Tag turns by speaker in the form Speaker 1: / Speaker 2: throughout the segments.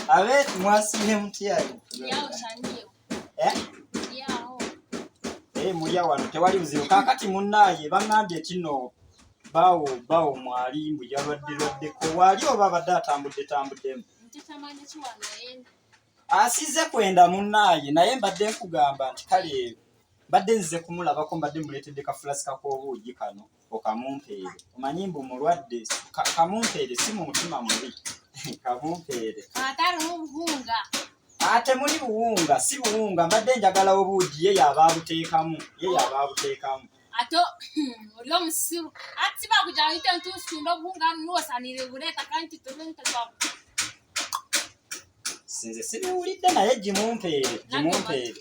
Speaker 1: Abe mwasiye mutya? Yao sandio.
Speaker 2: Eh? Yao.
Speaker 1: Eh, mulya wano tewali buzibu. Kakati munnaye bangambye kino bawo bawo mwali mbu yalwaddirwaddeko waali oba abadde atambudde tambuddemu
Speaker 2: asize
Speaker 1: kwenda munnaaye naye mbadde nkugamba nti kale mbadde nzize kumulabako mbadde muleetedde kafulasika k'obuugi kano okamumpeere omanyi mbu mulwadde kamumpeere si mu mutima mubi kamumpeere
Speaker 2: ate
Speaker 1: muli buwunga si buwunga mbadde njagala obuugi ye yaba abuteekamu ye yaba abuteekamu
Speaker 2: ate oli omusiru ati bakujaite ntusunda obuwunga nuwosanire buleeta kandi titulentekabu
Speaker 1: sinze sibiwulidde naye gimumpeere gimumpeere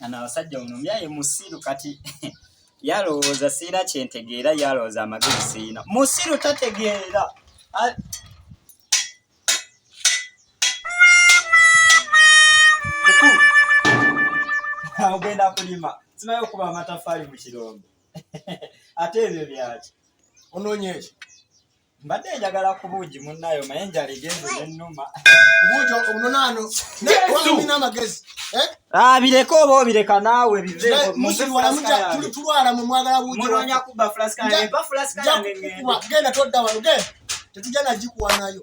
Speaker 1: Ana abasajja muno myaye musiru kati yalowooza siina kyentegeera yalowooza amagezi siina musiru tategeera ogenda kulima simaye okuba amatafaali mu kirombe ate ebyo byaki onoonyeeki
Speaker 3: mbadde
Speaker 1: njagala ku buugi munnayo naye enjala egenze nennuma buugi
Speaker 3: omunonaano nayewalina amagezi eh? abireka
Speaker 1: ah, oba obireka naawe bivetulwala
Speaker 3: mu mwagala buugimunonya kubba fulaska
Speaker 1: eba fulaska yange
Speaker 3: genda todda
Speaker 1: wano
Speaker 3: genda tetujja nagikuwa
Speaker 1: nayo